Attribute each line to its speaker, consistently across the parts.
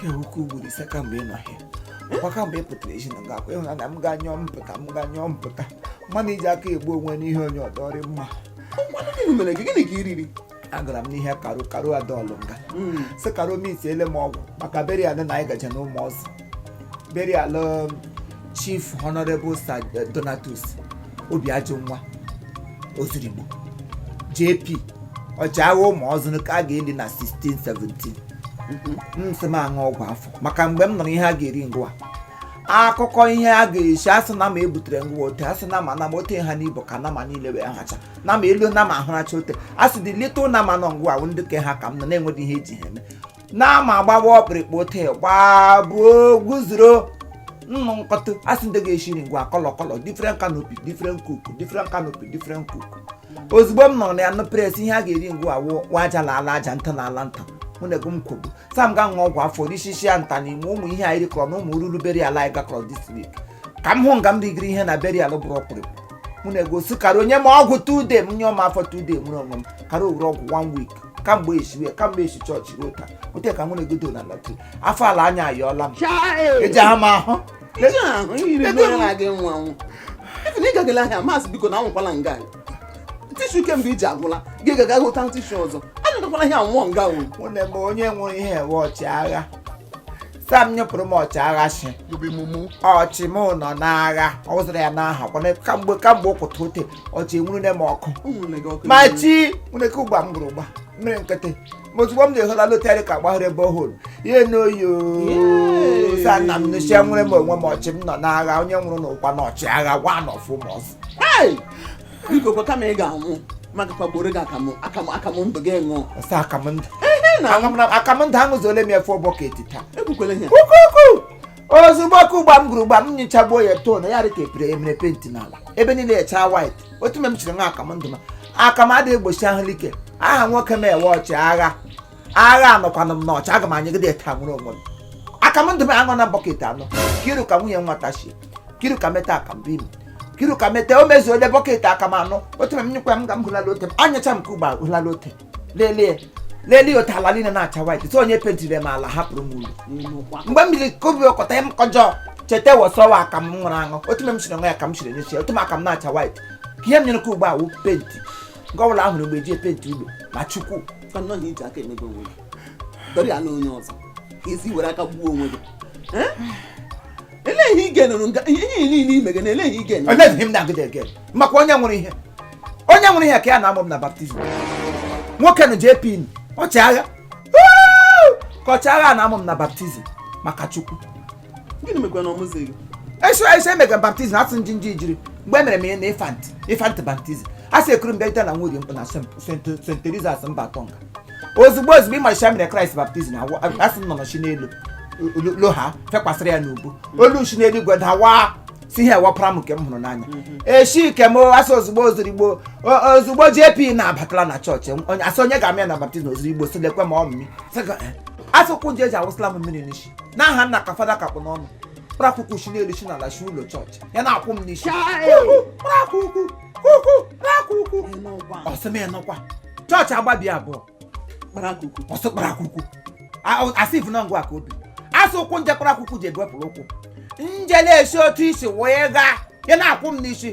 Speaker 1: kewuke ugboro ise kamgbe ị nọhịa ọkwa kamgbe ị pụtara ezi na nga akwa ịhụna na m ga nyụọ m pụta m ga nyụọ m pụta mmadụ iji aka egbu onwe n'ihe onye ọdọrị mma Ngwanụ gịnị
Speaker 2: mere gị gịnị ka i riri agara m
Speaker 1: n'ihe Caro Caro adọlụ m ga sị Caro m itiele m ọgwụ maka burial na anyị gaje n'Umuozu burial Chief Honorable Sir eh, Donatus Obiajunwa Ozurigbo JP ọchịagha ụmụ ọzụrụ ka a ga-eli na 1617 m sị m aṅụ ọgwụ afọ maka mgbe m nụrụ ihe a ga-eri ngwa akụkọ ihe a ga-esi asị nama ebutere ngwa ote asị nama nama ote ha n'ibu ka nama niile wee hacha nama elu nama ahụracha ote asị the little nama nọ ngwa wụ ndị ke ha ka m nọ na-enweghị ihe eji ha eme nama agbawa ọkpịrịkpụ tee gbaa buo guzoro nnụ nkọtụ asị ndị ga-eshiri ngwa kọlọ kọlọ different canopy different cook different canopy different cook ozugbo m nọrọ na ya nụ pres ihe a ga-eri ngwa awụ wa aja na ala aja nta na ala nta mụ na ego m kwogbu sam ga ṅụọ ọgwụ afọ rishishi ya nta n'ime ụmụ ihe anyị rikọrọ na ụmụ ruru burial anyị gakọrọ this week ka m hụ nga m rigiri ihe na burial bụrụ ọkpụrịkpụ mụ na ego sị Caro nye m ọgwụ two days m nyụọ m afọ two days nwere onwe m Caro ewere ọgwụ one week kamgbe esiwe kamgbe esi chọọchị ruo taa ote ka nwere godo na latu afọ ala anya ayọọla m eji ha ma ahụ
Speaker 2: ịgagala ahịa masị biko na anwụkwala nga tissue kemgbe iji agwụla gị gaga hụta tissue ọzọ anyụtakwala ihe anwụọ nga onye
Speaker 1: nwụrụ ihe ewe ọchịagha sam nyụpụrụ m ọchịagha shi ọchị m nọ n'agha ọ wụzara ya n'aha kwana kamgbe kamgbe ụkwụta ote ọchị enwurune m ọkụ ma Chineke ụgba m gụrụ ụgba mmiri nkịtị ma ozugbo m na-ehola lotarị ka gbahụrụ ebe ọhụrụ ihe n'oyo sa nna m nụchie nwere m onwe m ọchị m nọ n'agha onye nwụrụ n'ụkwa na ọchịagha gwa nọfụ m ọzọ biko
Speaker 2: kwa kama ị ga-anwụ maka kwagboro gị akamụ akamụ akamụ ndụ gị ṅụọ ọsọ akamụ
Speaker 1: ndụ ehe na akamụ na- akamụ ndụ aṅụzuole m ya four bucket taa ekwukwele ihe
Speaker 2: kukuku
Speaker 1: ozugbo ọkụ ụgba m gụrụ ụgba m nyochagbuo ya too na ya dị ka epere emere penti n'ala ebe niile echaa white otu mgbe m chiri ṅụọ akamụ ndụ ma akamụ adịghị egbochi ahụ like aha nwoke m ewe ọchịagha agha anọkwanụ m n'ọchị aga m anyụgide ya taa nwere onwe m akamụ ndụ m aṅụ na bucket anọ kiru ka nwunye nwata shie kiru ka meta aka mbe imo kiru ka meta o mezuole bucket akamụ anọ otu m nyụkwa m ga m hụlala ote m anyụcha m ka ugbo hụlala ote lelee lelee ote ala niile na-acha white so onye pentiri m ala hapụrụ m elu mgbe m biri kobi ọkọta m kọjọ cheta wọsọwa akamụ m ṅụrụ aṅụ otu m siri ṅụọ ya ka m siri nyechi otu m akamụ na-acha white ka ihe m nyụrụ ka ugbo awụ penti nke ọbụla ahụrụ mgbe eji penti ụlọ ma chukwu fanọ na iji aka emebe
Speaker 2: onwe gị dọrịa na onye ọzọ ka esi were aka gbuo onwe gị elee ihe ị ga-enụrụ nga ihe ihe niile ime gị na elee ihe ị ga-enụrụ Eleghị m na-agụda
Speaker 1: ege maka onye nwere ihe onye nwere ihe ka ya na-amụ m na baptizim nwoke nụ JP ọchịagha Woo! ka ọchịagha na-amụ m na baptizim maka chukwu gịnị
Speaker 2: mekwa na ọmụzi gị eso eso
Speaker 1: emega baptizim asị nji nji jiri mgbe emere m ihe na infant infant baptizim a sị ekuru m bịa ite na nwunye m na Saint- Saint- Saint Teresa's mba atọ nga ozugbo ozugbo ị ma shi e mere kraịst baptizim asị nnụnụ shi n'elu lo ha fekwasịrị ya n'ubu olu shi n'elu igwe dawa si ihe a wụ ọpara m nke m hụrụ n'anya eshi ike m asị ozugbo ozurigbo ozugbo jp na-abatala na chọọchị onye asị onye ga-amụ ya na baptizim ozurigbo si lekwe ma ọ mmiri asị ụkwụ nje eji awụsịla m mmiri n'isi n'aha nna ka fada kapụ n'ọnụ kpara kuku shi n'elu shi n'ala shi ụlọ chọọchị ya na-akwụ m n'isi kpara kuku kuku kpara kuku ọsị m ịnụkwa chọọchị agbabi abụọ ọsọ kpara kuku asị ifu na ngwa ka obi asị ụkwụ nje kpara kuku ji egwepụrụ ụkwụ nje na-esi otu isi wee gaa ya na-akwụ m n'isi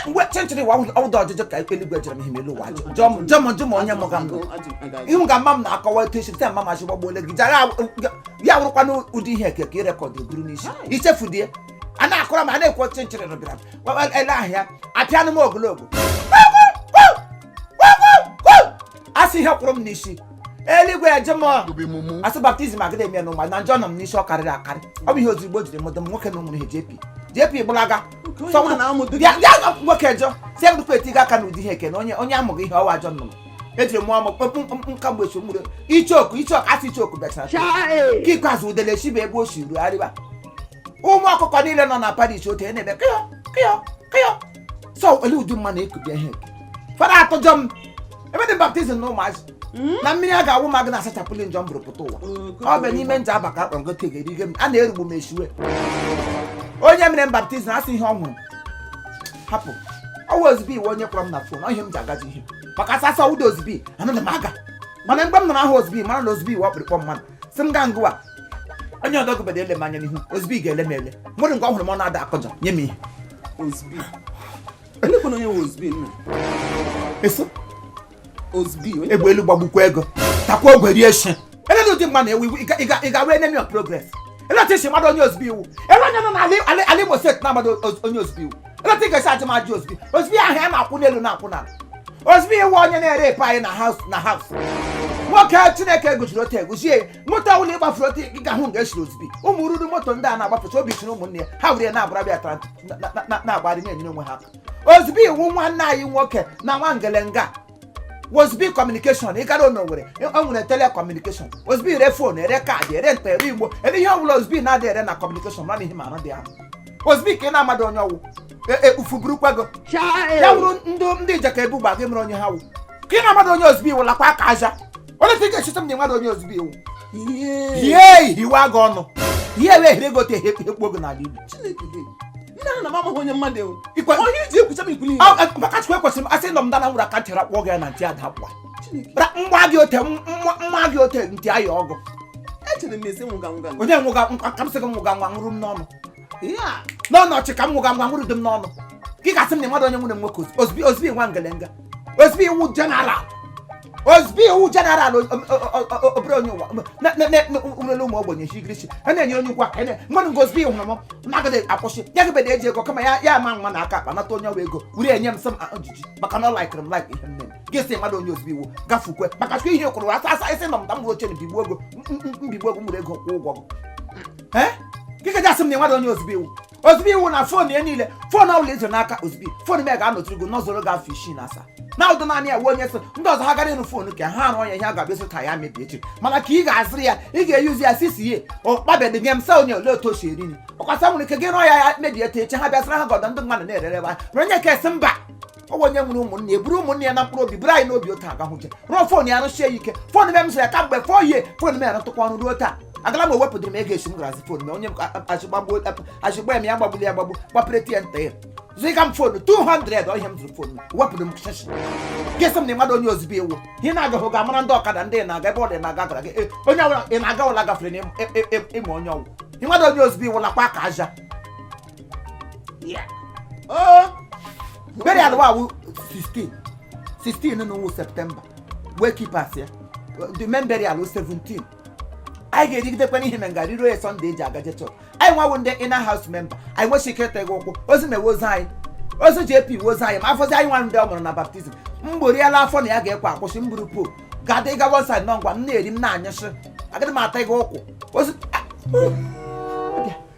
Speaker 1: mgbe chenchịrị wa ọdụ ọjụjụ ka ikpe eluigwe jere m ihe melu ụwa jọmọjụ ma onye mụga mbụ ihu ga mma m na-akọwa etu esi mma machi gbagbuole gị jara ya wụrụkwana ụdị ihe eke ka ị rekọdụ buru n'isi ichefu die a na-akọrọ ma a na-ekwu chenchịrị rụbịara ele ahịa apịanụ m ogologo asị ihe kwụrụ m n'isi eluigwe eje m asị baptizim agada eme n'ụwa na njọ nọ m n'isi ọ karịrị akarị ọ bụ ihe ozurigbo jiri mụdụ m nwoke na ụmụrụ ha JP JP gbalaga nwoke jọ si egụdụkwa etigo aka n'ụdị ihe eke na onye onye amụghị ihe ọwa ajọ nnụnụ eji mụọ m kpọpụ nka mgbe echi mgburu ichoku ichoku asị ichoku bịachara ka ikpeazụ udele shi ebe o si ruo arịba ụmụ ọkụkọ niile nọ na parish otu e na-ebe kịọ kịọ kịọ so ole ụdị mma na-ekubie ihe fada atụjọ m ebe dị baptizim na ụmụazị na mmiri a ga-awụ m ga na-asachapụli njọ m buru pụta ụwa ọ bụ n'ime nje aba ka akpa ngote ga-erige m a na-erugbu m esiwe onye mere m baptizim asị ihe ọ nwụrụ hapụ ọwa OZB wụ onye kpọrọ m na fon ọ ihe m ji agaji ihe maka asa asa ụda OZB anaghị m aga mana mgbe m nụrụ aha OZB mara na OZB wụ ọkpụrụkpụ mmadụ si m gaa ngwa onye ọdọ gụbede ele m anya n'ihu OZB ga-ele m ele nwere nke ọ hụrụ m ọ na-ada akọjọ nye m ihe egbe elu gbagbukwa ego takwa ogwe rie shi ele ụdị mma na-ewu iwu ị ga-awụ enemy of progress ele otu isi mmadụ onye OZB wụ ele onye nọ n'ala Imo steeti na-amadị onye OZB wụ ele otu ị ga-esi ajụ m ajụ OZB OZB aha ya na-akwụ n'elu na-akwụ n'ala OZB wụ onye na-erep anyị na house na house nwoke chineke gụjiri otu egwuzie moto ọbụla ị gbafuru otu ị ga-ahụ nga esiri ozbi ụmụ ruru moto ndị a na-agbafecha obi siri ụmụnne ya ha were ya na-abara bịa tara na- na- na- na-agbari na-enyere onwe ha aka ozbi wụ nwanne anyị nwoke na nwa ngelenga ozbi communication ị gara n'owerri o nwere telecommunication ozbi ere fon ere kaadị ere nta ere imo ere ihe ọbụla ozbi na-adị ere na communication mara ihe mara dị ahụ ozbi ka ị na-amadị onye ọ wụ e- ekpufuburukwa gị ya wụrụ ndị ndị ijeka ebugba gị mere onye ha wụ ka ị na-amadị onye ozbi wụ lakwa aka aja onye ka ị ga-echeta m na ị madị onye ozbi wụ ihe hiwe aga ọnụ ihe wee hire gote ihe ekpu oge n'ala igbo maka chukwu ekwesịrị m asị nọ m dana nwere aka ntị rakpọ gị ya na ntị ada akwa nwa gị ote nwa gị ote ntị aya ọgụ onye nwụga nka m sị gị nwụga nwa nwụrụ m n'ọnụ n'ọnụ ọchị ka m nwụga ngwa nwụrụ dị m n'ọnụ ka ị ga-asị m na ị madị onye nwere nwoke ozbi ozbi nwa ngelenga ozbi wụ general ozbi wụ general obere onye ụwa nwere ụmụ ogbenye chigirichi a na-enye onye ụgwọ aka mmadụ nke ozbi hụrụ m na-agaghị akwụsị ya gịbeda eji ego kama ya ya ama nwa na aka akpa nata onye ọwa ego were enye m sị m ojiji maka na ọ laikiri m laik ihe m mere gị sị ị madị onye ozbi wụ gafukwe maka chukwu ihe kwụrụ asa asa isi nọ m ta m bụrụ oche na bigbuo ego mbigbuo ego m were ego kwụọ ụgwọ ee gị ka ji asị m na ị madị onye ozbi wụ ozbi wụ na fon ya niile fon ọbụla ị zụ n'aka ozbi fon m ya ga-anọtụrụ gị n'ọzọrọ gị afọ isii na asaa na ụdọ naanị ya wee onye so ndị ọzọ ha gara ịrụ fon ka ha arụ onye ihe a ga-abịa sota ya mebie echi mana ka ị ga-azụrụ ya ị ga-eyuzi ya sisi ye ọkpabedị nye m sa onye ole otu o si eri nri ọkwasa nwere ike gị rụọ ya ya mebie echi ha bịasịra ha gọdọ ndị mmadụ na-erere ebe a onye ka esi mba ọ wụ onye nwere ụmụnne ya buru ụmụnne ya na mkpụrụ obi buru anyị n'obi otu agahụje rụọ fon ya arụsie ya ike fon m emesara ya ka mgbe fọ ihe fon m ya rụtụkwa ọrụ ruo taa agala m ewepụtara m ego esi m garazi fon m onye m azụgba m ya gbagbuli ya gbagbu gbapere tie nta ya zụga m fon 200 ihe m zụrụ fon wepụrụ m shishi gị sị m na ị madị onye ozbi wụ ihe na-agaghị ga amara ndị ọkada ndị na-aga ebe ọ dị na-aga gara gị onye ọbụla ị na-aga ụla gafere na ịma onye ọ wụ ị madị onye ozbi wụ lakwa aka aja burial ụwa awụ 16 16 n'ọnwa september wake keep ya the main burial 17 anyị ga-erigidekwa n'ihe na nga riro ya sunday eji agaje church anyị nwawo ndị inner house member anyị nwechi ike ịta gị ụkwụ ozi na-ewe ozi anyị ozi JP ozi anyị ma afọ ozi anyị nwa ndị ọ mụrụ na baptism mgboriela afọ na ya ga-ekwe akwụsị mburu po ga-adị ịga one side nọ ngwa m na-eri m na-anyụsị agaghị m ata gị ụkwụ ozi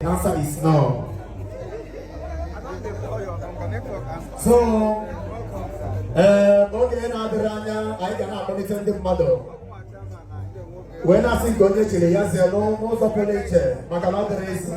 Speaker 2: The
Speaker 3: answer is no. So, eh, oge na-adịrọ anya anyị ga na-akpọlite ndị mmadụ wee na-asị nke onye chiri ya zere n'ụzọ pụrụ iche maka na ọ dịrọ easy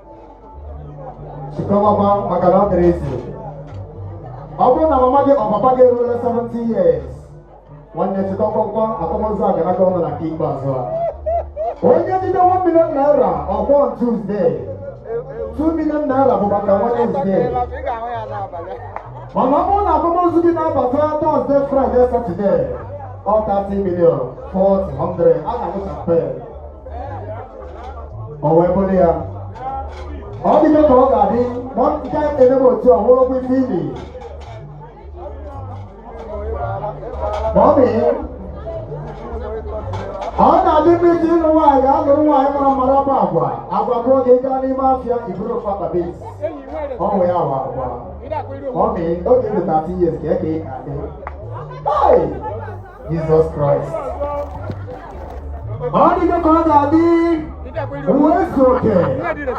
Speaker 3: chịkọwakwa maka na ọ dịrọ easy ọ bụrụ na mama gị or papa gị eruola 70 years nwanne chịkọwakwa akwamozu a ga-anata ọnụ na nke ikpeazụ a onye jide 1 million naira ọ bụ on Tuesday 2 million naira bụ maka Wednesday mana ọ bụrụ na akwamozu gị na-abata Thursday Friday Saturday ọ 30 million 40 100 a na-aṅụ champagne o wee bụrụ ya ọ dịgo ka ọ ga-adị ma ọ nke anyị na-emebe otu a hụrụ ọgwụ ife ili ma ọ mịghị ọ na-adị mma ị je ịlụ nwaanyị gaa lụrụ nwaanyị mara mma bụ agwa agwa bụ oge ị ga n'ime afịa i buru ofu akpa beans ọ bụ ya bụ agwa ọ mịghị oge i ruta 30 years ka ị ga-adị Hey! Jizọs Kraịst ọ dịgo ka ọ ga-adị ụwa ezu oke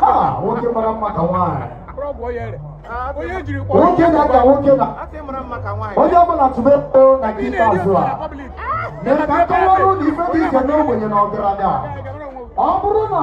Speaker 3: ha nwoke mara mma ka nwaanyị nwoke na-aga nwoke na onye ọbụla tụba ego na nke ikpeazụ a mere ka a kọwara unu ife dị iche n'ogbenye na ọgaranya ọ bụrụ na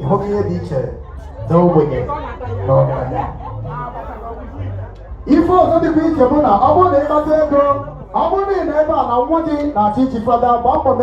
Speaker 3: ị hụgo ihe dị iche na ogbenye na ọgaranya ife ọzọ dịkwa iche bụ na ọ bụrụ na ị kpata ego ọ bụrụ na ị nọ ebe a na nwa gị na-achọ ichi fada gbaa mbọ mee